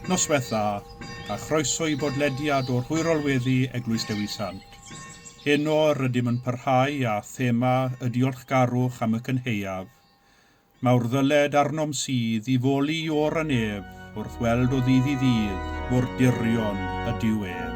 Noswaith dda, a chroeso i bodlediad o'r Hwyrol Weddi, Eglwys Dewi Sant. Heno rydym yn parhau â thema y diolchgarwch am y cynhaeaf mawr ddyled arnom sydd i foli i or yn ef wrth weld o ddydd i ddydd mor dirion ydyw ef.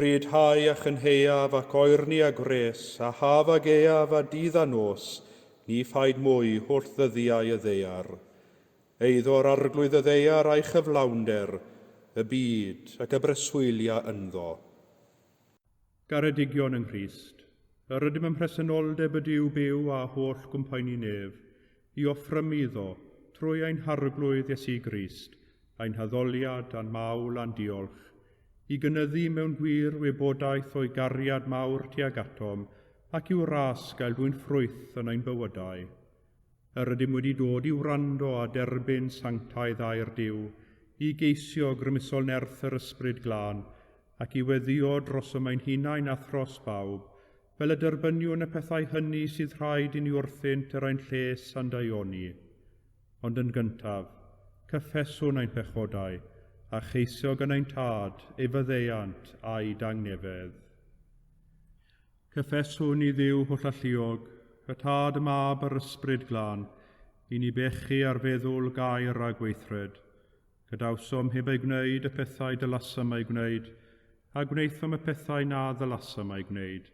Rhyddhau a chynheuaf ac oerni a gwres, a haf a geaf a dydd a nos, ni phaid mwy holl ddyddiau y ddeiar. Eiddo'r arglwydd y ddeiar a'i chyflawnder, y byd ac y breswylia ynddo. Garedigion yng Nghrist, yr ydym ym mhresenoldeb y Duw byw a holl gwmpaini nef, i offrymu iddo, trwy ein Harglwydd Iesu Grist, ein haddoliad a'n mawl a'n diolch, i gynyddu mewn gwir wybodaeth o'i gariad mawr tuag atom, ac i'w ras gael dwyn ffrwyth yn ein bywydau. Yr ydym wedi dod i wrando a derbyn sanctaidd air Duw, i geisio grymusol nerth yr Ysbryd Glân, ac i weddio drosom ein hunain a thros bawb, fel y derbyniwn y pethau hynny sydd rhaid i ni wrthynt er ein lles a'n daioni. Ond yn gyntaf, cyffeswn ein pechodau, a cheisio gan ein Tad ei faddeuant a'i dangnefedd. Cyffeswn i Dduw holl alluog, y Tad, y Mab a'r Ysbryd Glân, i ni bechu ar feddwl, gair a gweithred. Gadawsom heb ei gwneud y pethau dylasam ei gwneud, a gwnaethom y pethau na ddylasam eu gwneud.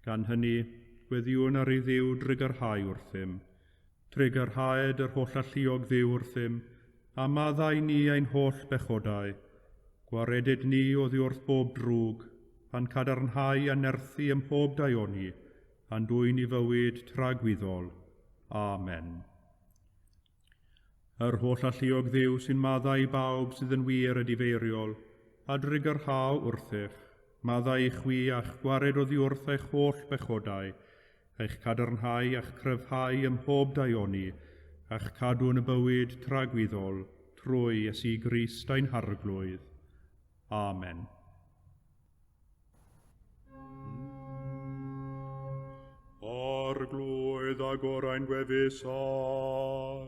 Gan hynny, gweddïwn ar ei Dduw drwy garhau wrthym. Trigyrhaed yr holl alluog Dduw wrthym, a maddau ni ein holl bechodau. Gwaredid ni oddi wrth bob drwg, a'n cadarnhau a nerthu ym mhob daioni, a'n dwyn i fywyd tragwyddol. Amen. Yr holl alluog Dduw sy'n maddau i bawb sydd yn wir a difeiriol, a drigyrhau wrthych, maddau i chwi a'ch gwared oddi wrth eich holl bechodau, a'ch cadarnhau a'ch cryfhau ym mhob daioni, a'ch cadw yn y bywyd tragwyddol trwy Iesu Grist ein Harglwydd. Amen. Arglwydd a gorau'n gwefusau.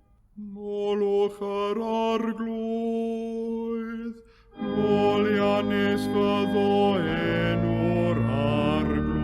Molwch yr arglwydd, molianus fyddo enw'r arglwydd.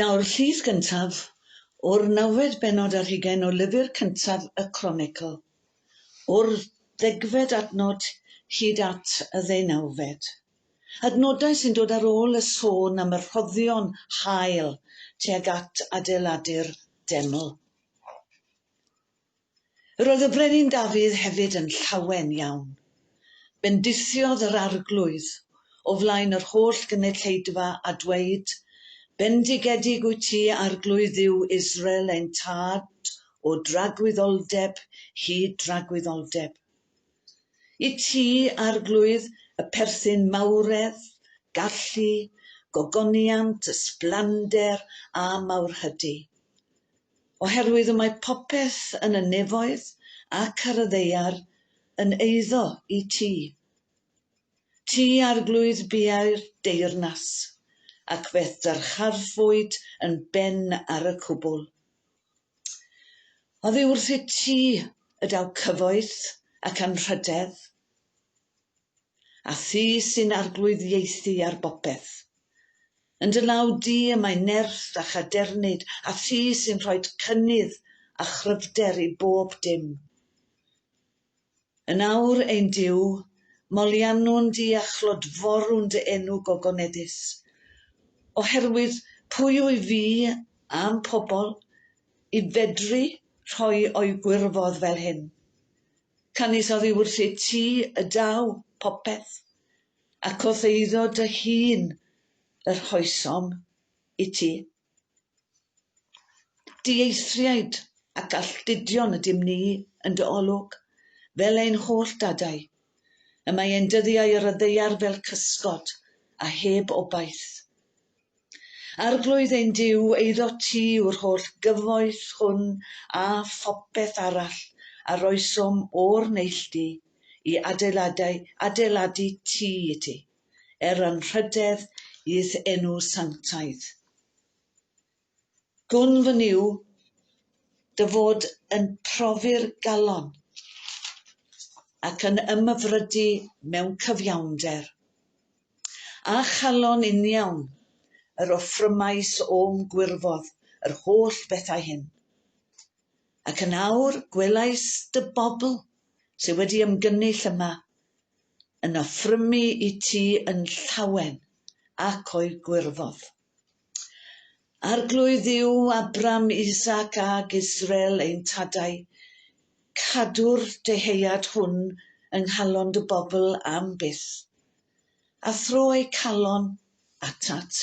Daw'r llys gyntaf o'r nawfed bennod ar hugain o lyfr cyntaf y Cronicl, o'r ddegfed adnod hyd at y ddeunawfed. Adnodau sy'n dod ar ôl y sôn am y rhoddion hael tuag at adeiladu'r deml. Roedd y Brenin Dafydd hefyd yn llawen iawn. Bendisiodd yr Arglwydd o flaen yr holl gynulleidfa a dweud, Bendigedig wyt ti, Arglwydd Dduw Israel ein tad, o dragwyddoldeb hyd dragwyddoldeb. I ti, Arglwydd, y perthyn mawredd, gallu, gogoniant, ysblander a mawrhydi. oherwydd y mae popeth yn y nefoedd ac ar y ddeiar yn eiddo i ti. Ti arglwydd biau'r deyrnas, ac fe ddyrchafwyd yn ben ar y cwbl. Oddi wrthyt ti y daw cyfoeth ac anrhydedd, A Thi sy'n arglwyddiaethu ar bopeth. Yn dy law di y mae nerth a chadernid, a Thi sy'n rhoid cynnydd a chryfder i bob dim. Yn awr, ein Duw, moliannwn di a chlodforwn dy enw gogoneddus. Oherwydd pwy wy fi a'm pobl i fedru rhoi o'i gwirfodd fel hyn? Canys oddiwrth ei ti y daw popeth, ac wrth eiddo dy hun y rhoesom i ti. Dieithriaid ac alltudion ydym ni yn dy olwg, fel ein holl dadau. Y mae ein dyddiau ar y ddaear fel cysgod, a heb obaith. Arglwydd ein Duw, eiddo ti yw'r holl gyfoeth hwn a phopeth arall a roesom o'r neilltu i adeiladau adeiladu tŷ i ti, er anrhydedd i'th enw sanctaidd. Gwn fy nyw dy fod yn profi'r galon ac yn ymyfrydu mewn cyfiawnder, a chalon uniawn yr offrymais o'm gwirfodd yr holl bethau hyn. Ac yn awr gwelais dy bobl sydd wedi ymgynnull yma yn offrymu i ti yn llawen ac o'i gwirfodd. Arglwydd yw Abram, Isaac ag Israel ein tadau. Cadw'r dyhead hwn yng nghalon dy bobl am byth, a thro eu calon atat.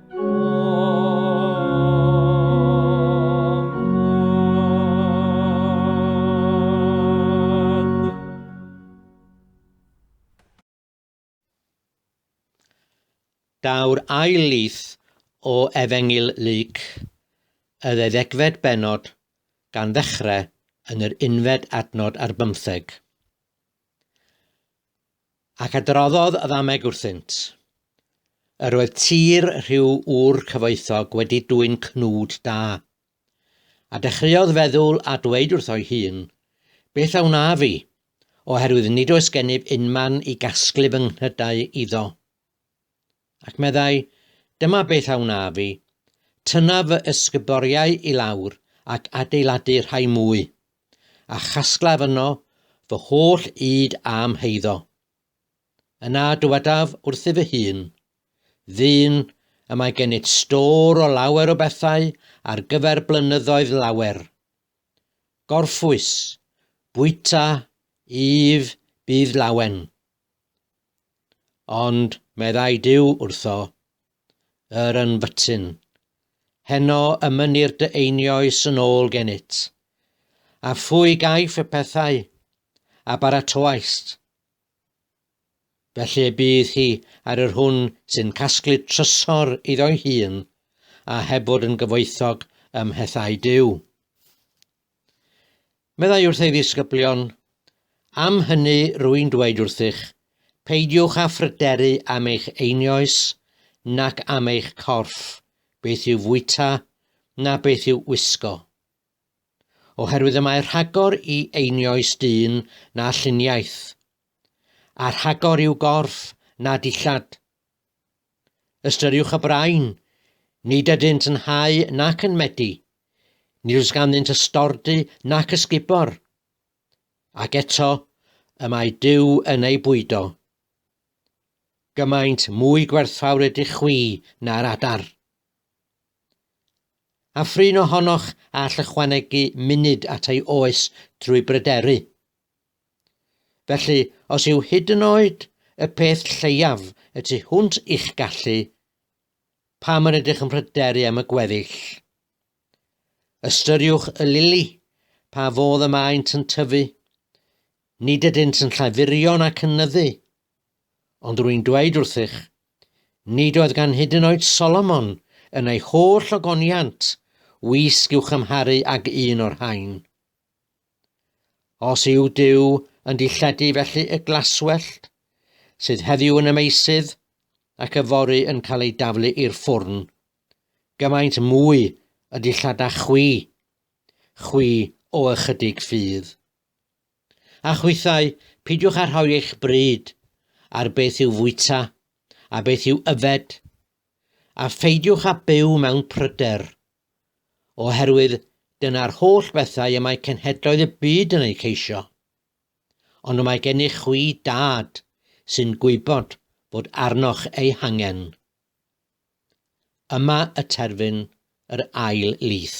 Daw'r ail lith o Efengyl Luc, y ddeuddegfed benod, gan ddechrau yn yr unfed adnod ar bymtheg. Ac adroddodd y ddameg wrthynt, Yr oedd tir rhyw ŵr cyfoethog wedi dwyn cnwd da. A dechreuodd feddwl a dweud wrtho'i hun, Beth a wnaf i? Oherwydd nid oes gennyf unman i gasglu fy nghnydau iddo. Ac meddai, Dyma beth a wnaf i, tynnaf fy ysguboriau i lawr ac adeiladu rhai mwy, a chasglaf yno fy holl ŷd a'm heiddo. Yna dywedaf wrthyf fy hun, Ddyn, y mae gennyt stor o lawer o bethau ar gyfer blynyddoedd lawer. Gorffwys, bwyta, yf, bydd lawen. Ond meddai Duw wrtho, Yr yn fytyn, heno y mynir dy einioes yn ôl gennyt, a phwy gaiff y pethau a baratoaist? Felly bydd hi ar yr hwn sy'n casglu trysor iddo'i hun, a heb fod yn gyfoethog ym mhethau Duw. Meddai wrth ei ddisgyblion, Am hynny rwy'n dweud wrthych, peidiwch â phryderu am eich einioes, nac am eich corff, beth i'w fwyta, na beth i'w wisgo. Oherwydd y mae rhagor i einioes dyn na lluniaeth, a rhagor i'w gorff na dillad. Ystyriwch y brain, nid ydynt yn hau nac yn medi, nid oes ganddynt ystordy nac ysgubor. Ac eto, y mae Duw yn eu bwydo. Gymaint mwy gwerthfawr ydych chwi na'r adar. A phrin ohonoch all ychwanegu munud at ei oes drwy bryderu? Felly, os yw hyd yn oed y peth lleiaf y tu hwnt i'ch gallu, pam yr ydych yn pryderu am y gweddill? Ystyriwch y lili, pa fodd y maent yn tyfu. Nid ydynt yn llafurion ac yn nyddu. Ond rwy'n dweud wrthych, nid oedd gan hyd yn oed Solomon yn ei holl ogoniant wisg i'w chymharu ag un o'r rhain. Os yw Duw yn dilledu felly y glaswellt, sydd heddiw yn y meysydd ac yfory yn cael ei daflu i'r ffwrn, gymaint mwy y dillada chwi, chwi o ychydig ffydd. A chwithau, pidiwch â rhoi eich bryd ar beth yw fwyta a beth yw yfed, a pheidiwch â byw mewn pryder, oherwydd dyna'r holl bethau y mae cenhedloedd y byd yn eu ceisio. Ond mae gennych chwi dad sy'n gwybod bod arnoch eu hangen. Yma y terfyn yr ail lith.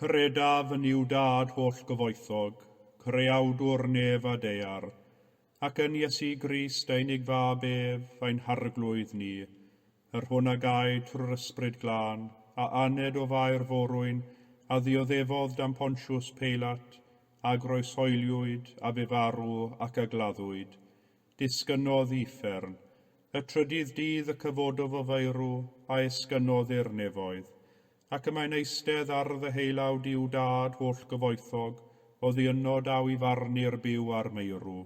Credaf yn I'w Dad holl-gyfoethog, Creawdwr nef a daear, ac yn Iesu Grist, ein Unig Fab ef, ein Harglwydd ni, yr Hwn a gaed trwy'r Ysbryd Glân, a aned o faer forwyn, a ddioddefodd dan Pontiws Peilat, a groeshoeliwyd, a fu farw, ac a gladdwyd. Disgynnodd i uffern. Y trydydd dydd y cyfododd o faerw, a esgynnodd i'r nefoedd. Ac y mae'n eistedd ar ddeheulawd i'w Dad hollgyfoethog, oddi yno daw i farnu'r byw a'r meirw.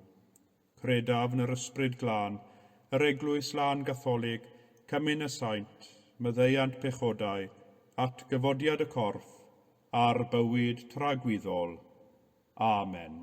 Credaf 'n 'r Yspryd Glân, yr Eglwys Lân Gatholig, Cymyn y Saint, myddeuant pechodau, atgyfodiad y corff, a'r bywyd tragwyddol. Amen.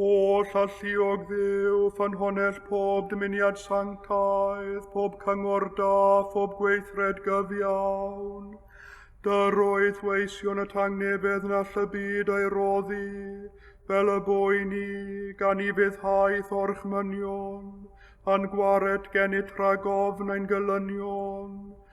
Holl alluog ddew, ffynhonell pob dymuniad sanctaidd, pob cyngor da, phob gweithred gyfiawn. Dyr oedd weision y tangnefedd na llybyd ei roddi, fel y boi ni, gan i fyddhaeth o'r chmynion, a'n gwared gennyt rhag ofn ein gylynion.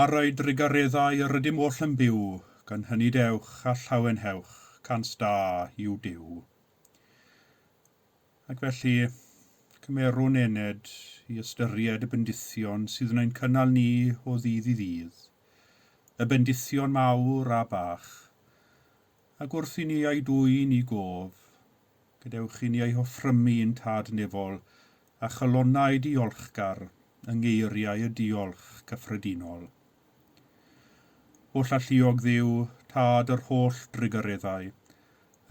Ar ei drugareddau yr ydym oll yn byw, gan hynny dewch a llawenhewch, cant da yw Duw. Ac felly, cymerwn ened i ystyried y bendithion sydd yn ein cynnal ni o ddydd i ddydd, y bendithion mawr a bach, ac wrth i ni eu dwyn i gof, gadewch i ni eu hoffrymu i'n Tad Nefol a chalonnau diolchgar yng ngeiriau y diolch cyffredinol. O llalluog Dduw, Tad yr holl drugareddau,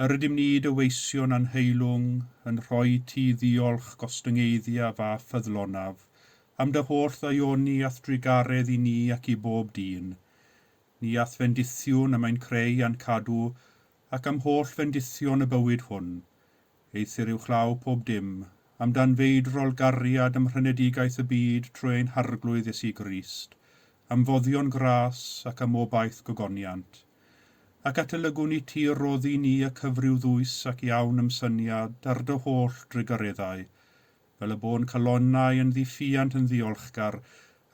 yr ydym ni dy weision a'n heilwng yn rhoi ti ddiolch gostyngeiddiaf a ffyddlonaf am dy holl ddaioni a'th drugaredd i ni ac i bob dyn, ni a'th fendithiwn y mae'n creu a'n cadw ac am holl fendithion y bywyd hwn, Eithr yw chlâw pob dim, am dan feid rolgariad am rhenedigaeth y byd trwy ein Harglwydd Iesu Grist, am foddion gras ac am obaith gogoniant. Ac atalygwn i Ti y roddi ni y cyfryw ddwys ac iawn ymsyniad ar Dy holl drugareddau, fel y bo'n calonnau yn ddiffuant yn ddiolchgar,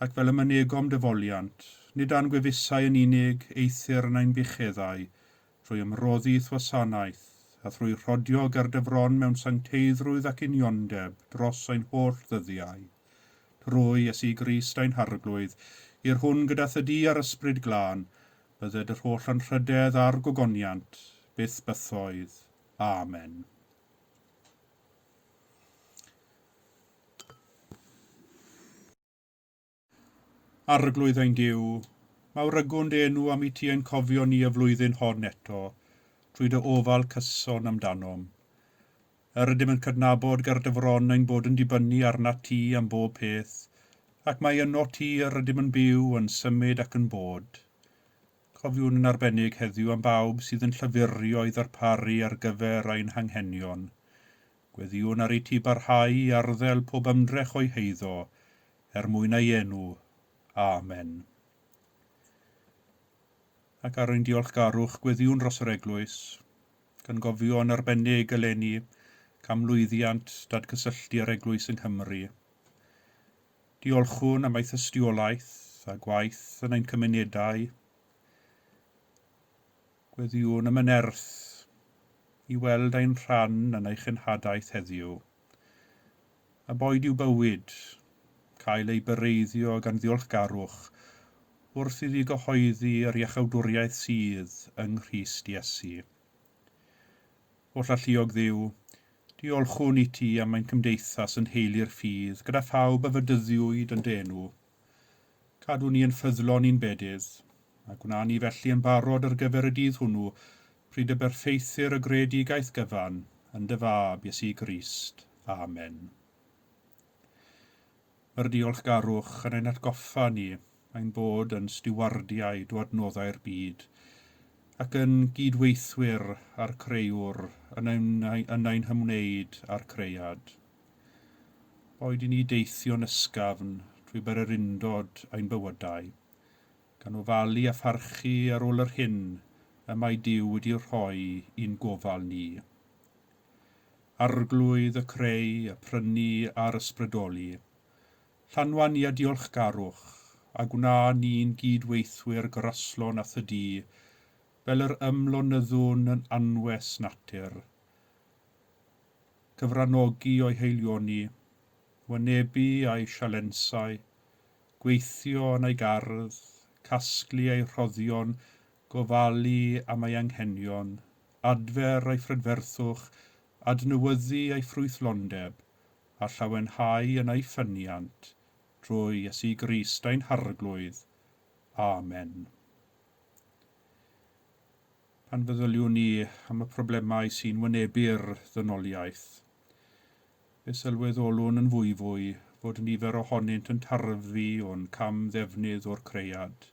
ac fel y mynegom Dy foliant, nid a'n gwefusau yn unig, eithr yn ein bucheddau, trwy ymroddi thwasanaeth, a thrwy rhodio gerdefron mewn sancteiddrwydd ac uniondeb dros ein holl ddyddiau, trwy Iesu Grist ein Harglwydd, i'r hwn gyda thydi a'r Ysbryd Glân, bydded yr holl anrhydedd a'r gogoniant, byth bythoedd. Amen. Arglwydd ein Duw, mawrygwn dy enw am i ti ein cofio ni y flwyddyn hon eto trwy dy ofal cyson amdanom. Yr ydym yn cydnabod ger dy fron ein bod yn dibynnu arnat ti am bob peth, ac mai yno ti yr ydym yn byw, yn symud ac yn bod. Cofiwn yn arbennig heddiw am bawb sydd yn llafurio i ddarparu ar gyfer ein hanghenion. Gweddïwn ar i ti barhau i arddel pob ymdrech o'u heiddo, er mwyn ei enw. Amen. Ac ar ein diolchgarwch gweddiwn dros yr Eglwys, gan gofio yn arbennig eleni am lwyddiant dadgysylltu yr Eglwys yng Nghymru. Diolchwn am ei thystiolaeth a gwaith yn ein cymunedau. Gweddiwn am y nerth i weld ein rhan yn ei chenhadaeth heddiw. A boed i'w bywyd cael ei byreiddio gan ddiolchgarwch wrth iddi gyhoeddi yr iachawdwriaeth sydd yng Nghrist Iesu. Oll Alluog Dduw, diolchwn iti am ein cymdeithas yn nheulu'r ffydd gyda phawb a fedyddiwyd yn dy enw. Cadw ni yn ffyddlon i'n bedydd, a gwna ni felly yn barod ar gyfer y dydd hwnnw, pryd y berffeithir y greadigaeth gyfan yn dy Fab, Iesu Grist. Amen. Mae'r diolchgarwch yn ein hatgoffa ni ein bod yn stiwardiaid o adnoddau'r byd, ac yn gyd-weithwyr â'r Crëwr yn ein hymwneud â'r Cread. Boed i ni deithio'n ysgafn drwy bererindod ein bywydau, gan ofalu a pharchu ar ôl yr hyn y mae Duw wedi ei rhoi i'n gofal ni. Arglwydd, y creu, y prynu a'r ysbrydoli, llanwa ni â diolchgarwch, a gwna ni'n gyd-weithwyr graslon â Thy Du, fel yr ymlonyddwn yn anwes natur, cyfranogi o'i heilioni, wynebu a'i sialensau, gweithio yn ei gardd, casglu ei rhoddion, gofalu am ei anghenion, adfer ei phrydferthwch, adnewyddu ei ffrwythlondeb, a llawenhau yn ei ffyniant, drwy Iesu Grist ein Harglwydd. Amen. Pan feddyliwn ni am y problemau sy'n wynebu'r ddynoliaeth, fe sylweddolwn yn fwyfwy fod nifer ohonynt yn tarfu o'n cam-ddefnydd o'r cread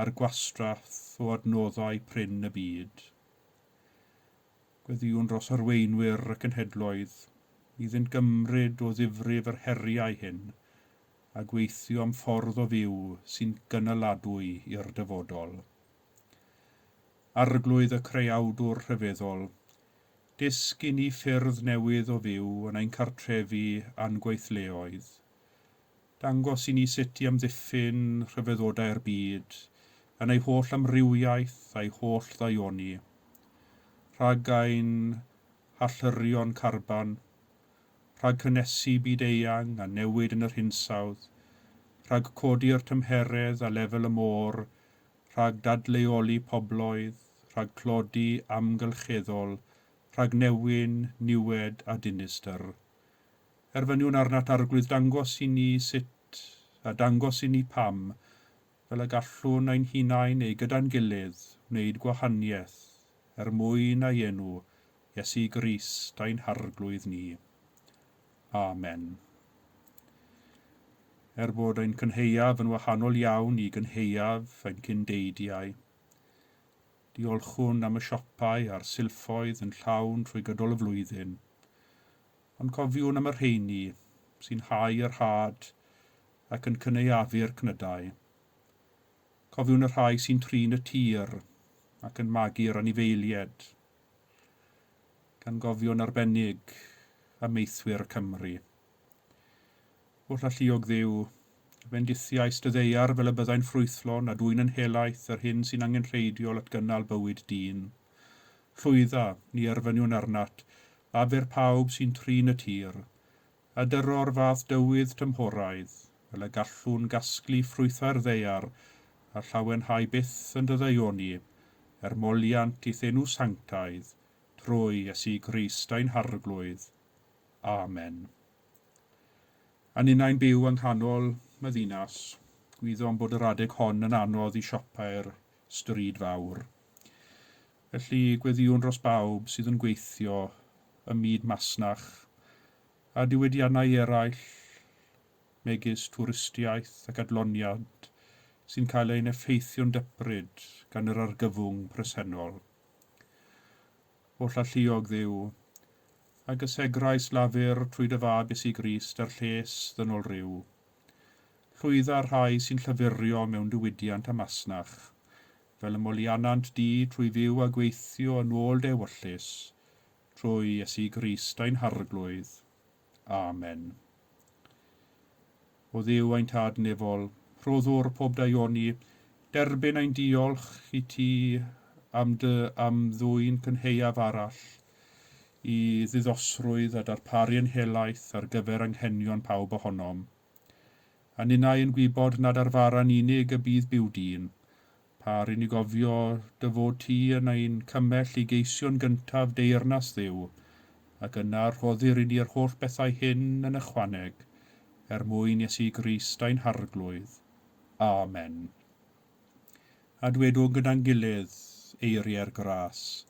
a'r gwastraff o adnoddau prin y byd. Gweddïwn dros arweinwyr y cenhedloedd iddynt gymryd o ddifrif yr heriau hyn a gweithio am ffordd o fyw sy'n gynaladwy i'r dyfodol. Arglwydd y Creawdwr Rhyfeddol, dysg i ni ffyrdd newydd o fyw yn ein cartrefi a'n gweithleoedd. Dangos i ni sut i amddiffyn rhyfeddodau'r byd yn ei holl amrywiaeth a'i holl ddaioni, rhag ein hallyrio'n carban, rhag cynnesu byd-eang a newid yn yr hinsawdd, rhag codi'r tymheredd a lefel y môr rhag dadleoli pobloedd, rhag tlodi amgylcheddol, rhag newyn, niwed a dinistr. Erfyniwn arnat Arglwydd dangos i ni sut, a dangos i ni pam, fel y gallwn ein hunain neu gyda'n gilydd wneud gwahaniaeth er mwyn ei enw, Iesu Grist ein Harglwydd ni. Amen. Er bod ein cynheuaf yn wahanol iawn i gynheuaf ein cyn-deidiau, diolchwn am y siopau a'r silffoedd yn llawn trwy gydol y flwyddyn, ond cofiwn am y rheini sy'n hau yr had ac yn cynaeafu'r cnydau. Cofiwn y rhai sy'n trin y tir ac yn magu'r anifeilied. gan gofio'n arbennig amaethwyr Cymru. Oll alluog dduw, fendithiais dy ddeiar fel y byddai'n ffrwythlon a dwyn yn helaeth yr hyn sy'n angenrheidiol at gynnal bywyd dyn. Llwydda, ni erfyniwn arnat, aber pawb sy'n trin y tir, Addaro'r fath dywydd tymhoraidd, fel y gallwn gasglu ffrwythau'r ddaear a llawenhau byth yn dy ddaioni, er moliant i'th enw sanctaidd, trwy Iesu Grist ein Harglwydd. Amen. A ninnau'n byw yng nghanol y ddinas, gwyddom bod yr adeg hon yn anodd i siopau'r Stryd Fawr. Felly, gweddïwn dros bawb sydd yn gweithio ym myd masnach a diwydiannau eraill, megis twristiaeth ac adloniant, sy'n cael ein effeithio'n dybryd gan yr argyfwng presennol. Oll alluog Dduw, a gysegrais Lafur trwy dy fab Iesu Grist a'r lles ddynol rhyw, Llwydda'r rhai sy'n llafurio mewn diwydiant a masnach, fel y molianant du trwy fyw a gweithio yn ôl dy ewyllys, trwy Iesu Grist ein Harglwydd. Amen. O Dduw ein Tad Nefol, rhoddwr pob daioni, derbyn ein diolch i ti am dy am ddwyn cynheuaf arall i ddiddosrwydd a darparu yn helaeth ar gyfer anghenion pawb ohonom, a ninnau yn gwybod nad ar fara'n unig y bydd byw dyn, pâr i ni gofio dy fod ti yn ein cymell i geisio'n gyntaf deyrnas Dduw, ac yna rhoddir i ni yr holl bethau hyn yn ychwaneg, er mwyn Iesu Grist ein Harglwydd. Amen. A dwedwn gyda'n gilydd, Eiriau'r Gras,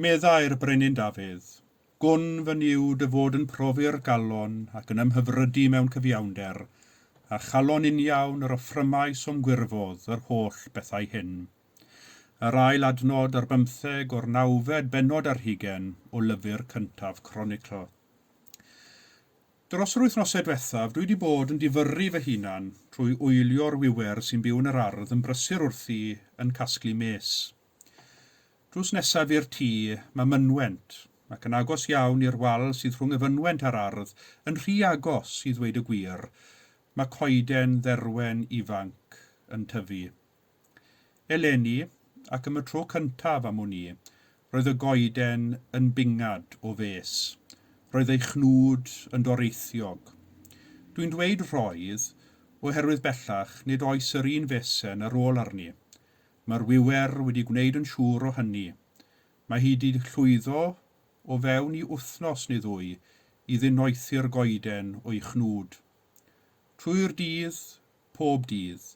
Meddai'r Brenin Dafydd, Gwn fy niwd y fod yn profi'r galon ac yn ymhyfrydu mewn cyfiawnder, a chalon uniawn yr offrymais o'm gwirfodd yr holl bethau hyn. Yr ail adnod ar bymtheg o'r nawfed bennod ar hugen o lyfr cyntaf Cronicl. Dros yr wythnosau diwethaf, dwi 'di bod yn difyrru fy hunan trwy oelio'r wiwer sy'n byw yn yr ardd yn brysur wrthi yn casglu mês. Drws nesaf i'r tŷ, mae mynwent, ac yn agos iawn i'r wal sydd rhwng y fynwent a'r ardd, yn rhy agos, i ddweud y gwir, mae coeden dderwen ifanc yn tyfu. Eleni, ac am y tro cyntaf am wn i, roedd y goeden yn bingad o fes. Roedd ei chnwd yn doreithiog. Dwi'n dweud 'roedd' oherwydd bellach nid oes yr un fesen ar ôl arni. Mae'r wiwer wedi gwneud yn siŵr o hynny. Mae hi 'di llwyddo o fewn i wythnos neu ddwy i ddinoethi'r goeden o'i chnwd. Trwy'r dydd, pob dydd.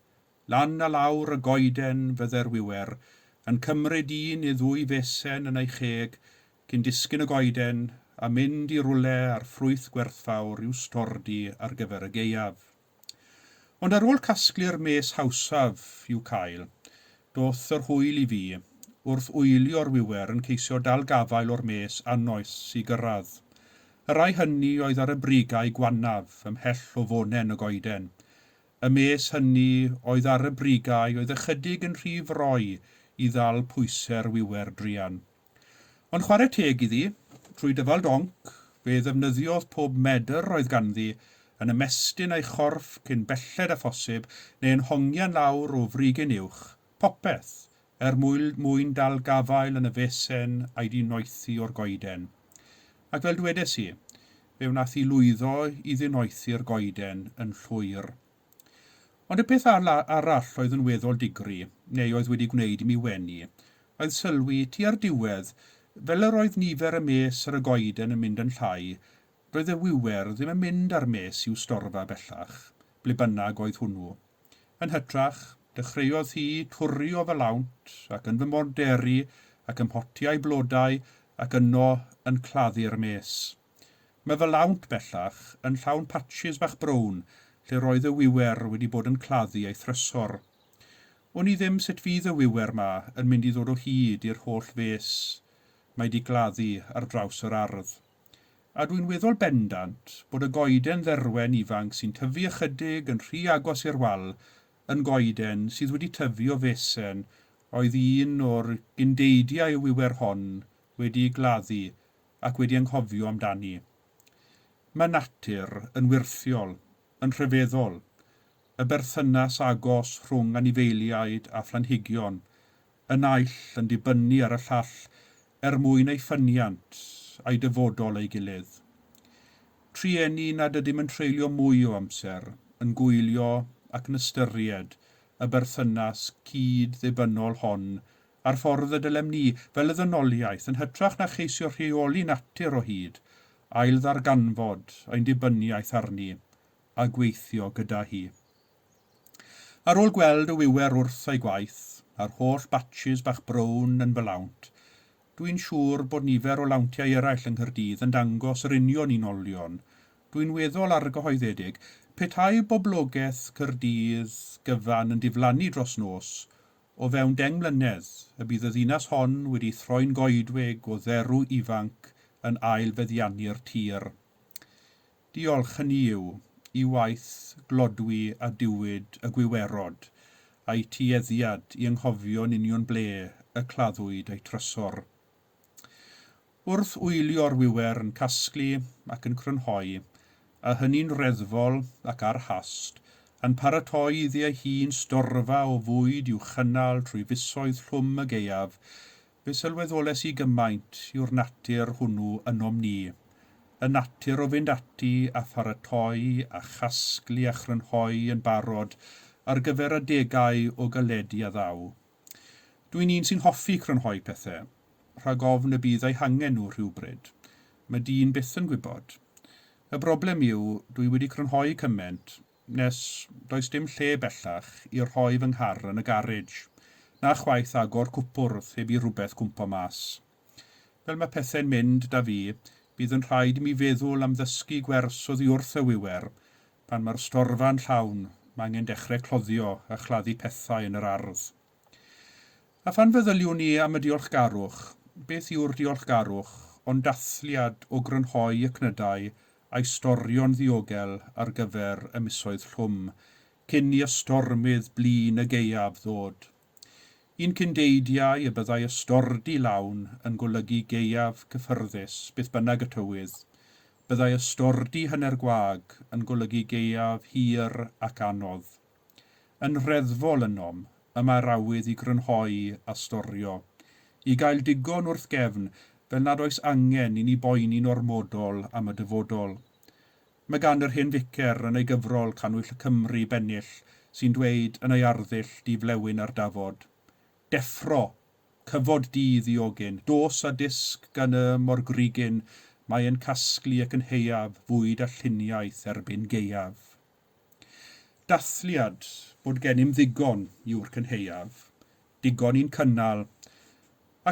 Lan a lawr y goeden fydde'r wiwer, yn cymryd un neu ddwy fesen yn ei cheg cyn disgyn y goeden a mynd i rywle â'r ffrwyth gwerthfawr i'w stordy ar gyfer y gaeaf. Ond ar ôl casglu'r mes hawsaf i'w cael, Doth yr hwyl i fi, wrth oelio'r wiwer yn ceisio dal gafael o'r mes annoes i gyrraedd. Y rhai hynny oedd ar y brigau gwannaf, ymhell o fonen y goeden. Y mes hynny oedd ar y brigau oedd ychydig yn rhy froi i ddal pwyse'r wiwer druan. Ond chwarae teg iddi, trwy dyfal donc, fe ddefnyddiodd pob medr roedd ganddi yn ymestyn ei chorff cyn belled â phosib, neu yn hongian lawr o frigyn uwch, popeth, er mwyn dal gafael yn y fesen a'i dinoethi o'r goeden. Ac fel dwedes i, fe wnaeth hi lwyddo i ddinoethi'r goeden yn llwyr. Ond y peth arall oedd yn weddol digri, neu oedd wedi gwneud i mi wenu, oedd sylwi, tua'r diwedd, fel yr oedd nifer y mes ar y goeden yn mynd yn llai, doedd y wiwer ddim yn mynd â'r mes i'w storfa bellach, ble bynnag oedd hwnnw. Yn hytrach, dechreuodd hi twrri o fy lawnt, ac yn fy morderi, ac ym mhotiau blodau, ac yno yn claddu'r mes. Mae fy lawnt bellach yn llawn patshys bach brown lle roedd y wiwer wedi bod yn claddu ei thrysor. Wn i ddim sut fydd y wiwer 'ma yn mynd i ddod o hyd i'r holl fês mae 'di gladdu ar draws yr ardd. A dwi'n weddol bendant bod y goeden dderwen ifanc sy'n tyfu ychydig yn rhy agos i'r wal yn goeden sydd wedi tyfu o fesen oedd un o'r gyn-deidiau y wiwer hon wedi ei gladdu ac wedi anghofio amdani. Mae natur yn wyrthiol, yn rhyfeddol, y berthynas agos rhwng anifeiliaid a phlanhigion y naill yn dibynnu ar y llall er mwyn eu ffyniant a'i dyfodol ei gilydd. Trueni nad ydym yn treulio mwy o amser yn gwylio ac yn ystyried y berthynas cyd-ddibynnol hon a'r ffordd y dylem ni, fel y ddynoliaeth, yn hytrach na cheisio rheoli natur o hyd, ailddarganfod ein dibyniaeth arni a gweithio gyda hi. Ar ôl gweld y wiwer wrth ei gwaith, a'r holl batshis bach brown yn fy lawnt, dw i'n siŵr bod nifer o lawntiau eraill yng Nghaerdydd yn dangos yr union un olion, dw i'n weddol argyhoeddedig petai boblogaeth Caerdydd gyfan yn diflannu dros nos O fewn deng mlynedd, y bydd y ddinas hon wedi throi'n goedwig o dderw ifanc yn ail feddiannu'r tir. Diolch, hynny yw, i waith glodwi a diwyd y gwiwerod, a'u tueddiad i anghofio'n union ble y claddwyd eu trysor. Wrth wylio'r wiwer yn casglu ac yn crynhoi, a hynny'n reddfol ac ar hast, yn paratoi iddi ei hun storfa o fwyd i'w chynnal trwy fisoedd llwm y gaeaf, fe sylweddolais i gymaint yw'r natur hwnnw ynom ni, y natur o fynd ati a pharatoi a chasglu a chrynhoi yn barod ar gyfer adegau o galedi a ddaw. Dw i'n un sy'n hoffi crynhoi pethe, rhag ofn y bydd eu hangen nhw rhywbryd. Mae dyn byth yn gwybod. Y broblem yw, dw i wedi crynhoi cyment, nes does dim lle bellach i rhoi fy nghar yn y garej, na chwaith agor cwpwrdd heb i rhywbeth gwmpo mas. Fel mae pethau'n mynd 'da fi, bydd yn rhaid i mi feddwl am ddysgu gwers oddi wrth y wiwer. Pan mae'r storfa'n llawn, mae angen dechrau cloddio a chladdu pethau yn yr ardd. A phan feddyliwn i am y diolchgarwch, beth yw'r diolchgarwch ond dathliad o grynhoi y cnydau a'i storio'n ddiogel ar gyfer y misoedd llwm, cyn i ystormydd blin y gaeaf ddod. Yn Cyndeidiau y byddai ystordy lawn yn golygu gaeaf cyffyrddus, beth bynnag y tywydd. Byddai ystordy hanner gwag yn golygu gaeaf hir ac anodd. Yn Nhreddfol ynom, y mae'r awydd i grynhoi a storio, i gael digon wrth gefn, fel nad oes angen i ni boeni'n ormodol am y dyfodol. Mae gan yr hen ficer yn ei gyfrol Cannwyll y Cymry bennill sy'n dweud yn ei arddull Di flewyn ar dafod. Deffro! Cyfod di ddiogyn! Dos a dysg gan y morgrugyn Mae yn casglu ac yn heiaf Fwyd a lluniaeth erbyn gaeaf. Dathliad, bod gennym ddigon yw'r cynhaeaf, digon i'n cynnal,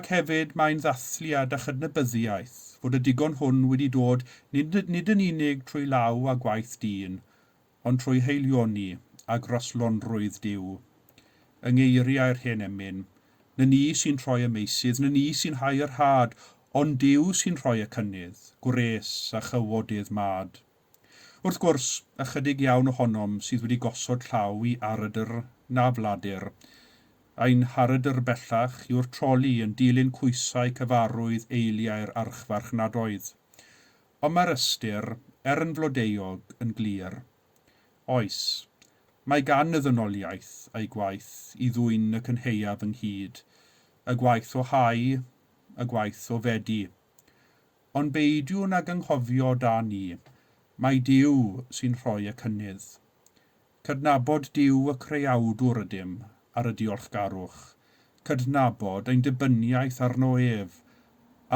ac hefyd mae'n ddathliad a chydnabyddiaeth fod y digon hwn wedi dod nid nid yn unig trwy law a gwaith dyn, ond trwy haelioni a graslonrwydd Duw. Yng ngeiriau'r hen emyn, 'Na ni sy'n troi y meusydd, na ni sy'n hau y rhad, ond Duw sy'n rhoi y cynnydd, gwres a chywodydd mad. Wrth gwrs, ychydig iawn ohonom sydd wedi gosod llaw i arydr na fladur. Ein harydr bellach yw'r troli yn dilyn coesau cyfarwydd eiliau'r archfarchnadoedd. Ond mae'r ystyr, er yn flodeuog, yn glir. Oes, mae gan y ddynoliaeth ei gwaith i ddwyn y cynhaeaf ynghyd, y gwaith o hau, y gwaith o fedi. Ond beidiwn ag anghofio da ni, mai Duw sy'n rhoi y cynnydd. Cydnabod Duw y Creawdwr ydym, ar y diolchgarwch, cydnabod ein dibyniaeth arno ef,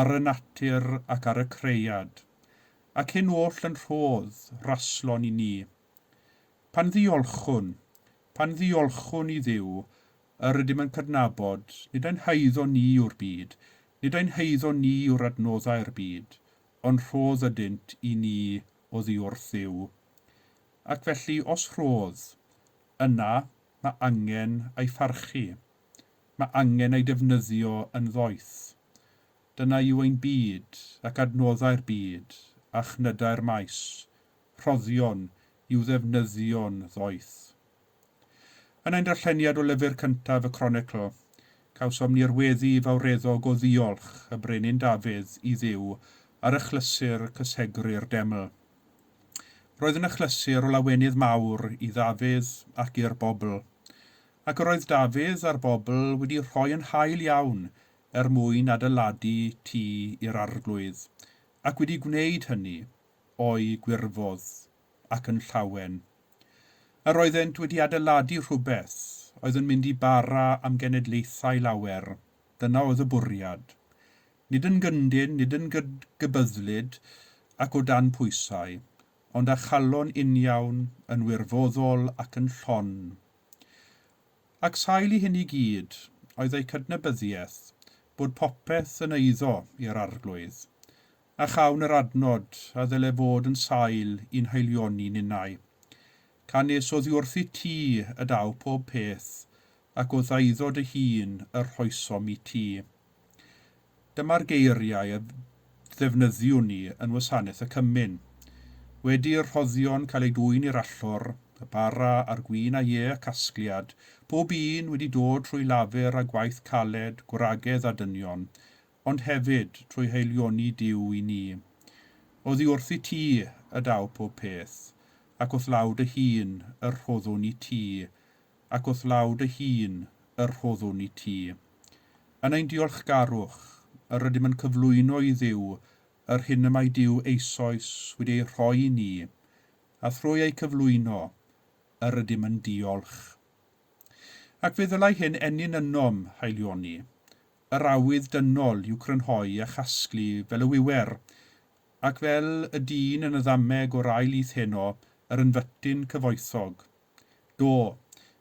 ar y natur ac ar y cread, ac hyn oll yn rhodd raslon i ni. Pan ddiolchwn, pan ddiolchwn i Dduw Yr ydym yn cydnabod, nid ein haeddo ni yw'r byd, nid ein haeddo ni yw'r adnoddau'r byd, ond rhodd ydynt i ni oddiwrth Dduw. Ac felly, os rhodd, yna mae angen ei pharchu. Mae angen ei defnyddio yn ddoeth. Dyna yw ein byd, ac adnoddau'r byd, a chnydau'r maes, rhoddion i'w ddefnyddio'n ddoeth. Yn ein darlleniad o lyfr cyntaf y Cronicl, cawsom ni'r weddi fawreddog o ddiolch y Brenin Dafydd i Dduw ar achlysur cysegru'r deml. Roedd yn achlysur o lawenydd mawr i Ddafydd ac i'r bobl. Ac yr oedd Dafydd a'r bobl wedi rhoi yn hael iawn er mwyn adeiladu tŷ i'r Arglwydd, ac wedi gwneud hynny, o'i gwirfodd, ac yn llawen. Yr oeddent wedi adeiladu rhywbeth oedd yn mynd i bara am genedlaethau lawer, dyna oedd y bwriad. Nid yn gyndyn, nid yn gydgybyddlyd ac o dan pwysau, ond â chalon uniawn, yn wirfoddol ac yn llon. Ac sail i hyn i gyd oedd eu cydnabyddiaeth bod popeth yn eiddo i'r Arglwydd, A chawn yr adnod, a ddyle fod yn sail i'n haelioni ninnau. Ca nes oddiwrthit ti, y daw pob peth, ac o ddaeddod dy hun y rhoesom i ti. Dyma'r geiriau y ddefnyddiwn ni yn Wasanaeth y Cymun. Wedi i'r rhoddion cael eu dwyn i'r allor, y bara a'r gwin a ie, y casgliad, pob un wedi dod trwy lafur a gwaith caled, gwragedd a dynion, ond hefyd trwy haelioni Duw i ni. Oddi wrthyt ti y daw pob peth, ac wrth law dy hun y rhoddwn i ti, ac wrth law dy hun y rhoddwn i ti. Yn ein diolchgarwch, yr ydym yn cyflwyno i Dduw yr hyn y mae Duw eisoes wedi ei rhoi i ni, a thrwy eu cyflwyno, yr ydym yn diolch. Ac fe ddylai hyn ennyn ynom haelioni, yr awydd dynol i'w crynhoi a chasglu fel y wiwer, ac fel y dyn yn y ddameg o'r ail lith heno, yr ynfytyn cyfoethog. Do,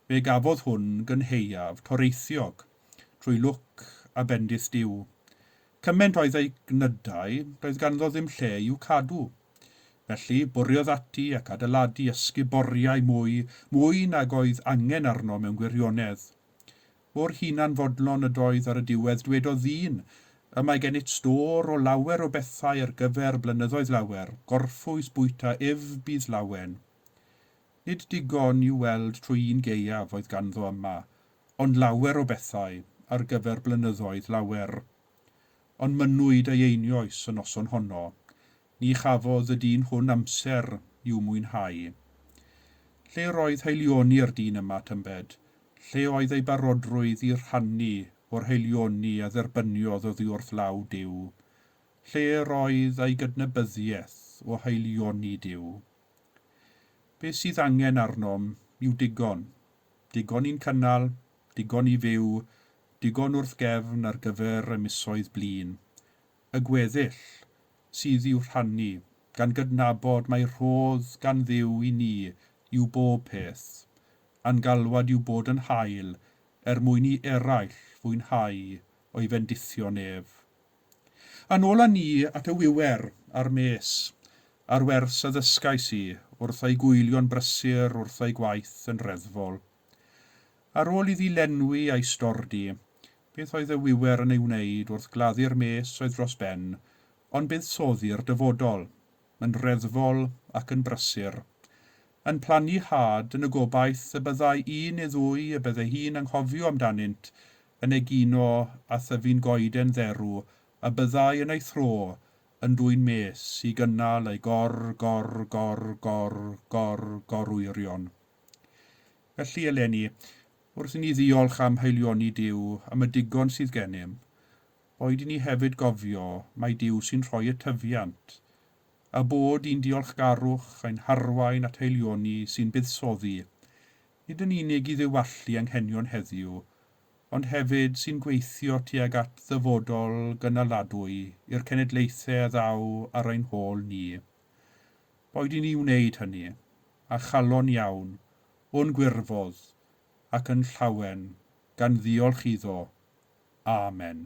fe gafodd hwn gynhaeaf toreithiog, trwy lwc a bendith Duw. Cyment oedd ei gnydau, doedd ganddo ddim lle i'w cadw. Felly, bwriodd ati ac adeiladu ysguboriau mwy, mwy nag oedd angen arno mewn gwirionedd. Mor hunanfodlon ydoedd ar y diwedd, dwedodd ddyn, Y mae gennyt stôr o lawer o bethau ar gyfer blynyddoedd lawer, gorffwys bwyta ef bydd lawen. Nid digon i'w weld trwy un gaeaf oedd ganddo yma, ond lawer o bethau ar gyfer blynyddoedd lawer. Ond mynnwyd ei einioes y noson honno, Ni chafodd y dyn hwn amser i'w mwynhau. Lle roedd haelioni'r dyn yma, tybed? Lle oedd ei barodrwydd i rhannu o'r haelioni a dderbyniodd oddi wrth law Duw? Lle roedd ei gydnabyddiaeth o haelioni Duw? Be' sydd angen arnom yw digon, digon i'n cynnal, digon i fyw, digon wrth gefn ar gyfer y misoedd blin, y gweddill sydd i'w rhannu, gan gydnabod mai rhodd gan Dduw i ni yw bob peth, a'n galwad yw bod yn hael er mwyn i eraill fwynhau o'i fendithion ef. Yn ôl â ni at y wiwer a'r mes, a'r wers a ddysgais i wrth ei gwylio'n brysur wrth ei gwaith yn reddfol. Ar ôl iddi lenwi a'i stordy, Beth oedd y wiwer yn ei wneud wrth gladdu'r mes oedd dros ben, ond buddsoddi'r dyfodol, yn reddfol ac yn brysur, yn plannu had yn y gobaith y byddai un neu ddwy y bydde hi'n anghofio amdanynt yn egino a thyfu'n goeden dderw a byddai yn ei thro yn dwyn mes i gynnal ei gor, gor, gor, gor, gor, gorwyrion. Felly eleni, Wrth i ni ddiolch am haelioni Duw am y digon sydd gennym, boed i ni hefyd gofio mai Duw sy'n rhoi y tyfiant, a bod i'n diolchgarwch ein harwain at haelioni sy'n buddsoddi, nid yn unig i ddiwallu anghenion heddiw, ond hefyd sy'n gweithio tuag at ddyfodol gynaladwy i'r cenedlaethau a ddaw ar ein hôl ni. Boed i ni wneud hynny, a chalon iawn, o'n gwirfodd, ac yn llawen, gan ddiolch iddo. Amen.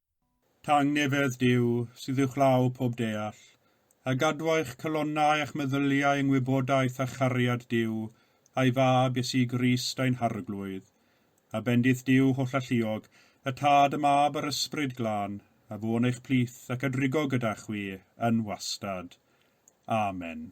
Tangnefedd Duw, sydd uwchlaw pob deall, a gadwai'ch calonnau a'ch meddyliau yng ngwybodaeth a chariad Duw a'i Fab, Iesu Grist ein Harglwydd, a bendith Duw hollalluog, y Tad, y Mab, a'r Ysbryd Glân, a fu'n eich plith ac a drigo gyda chwi yn wastad. Amen.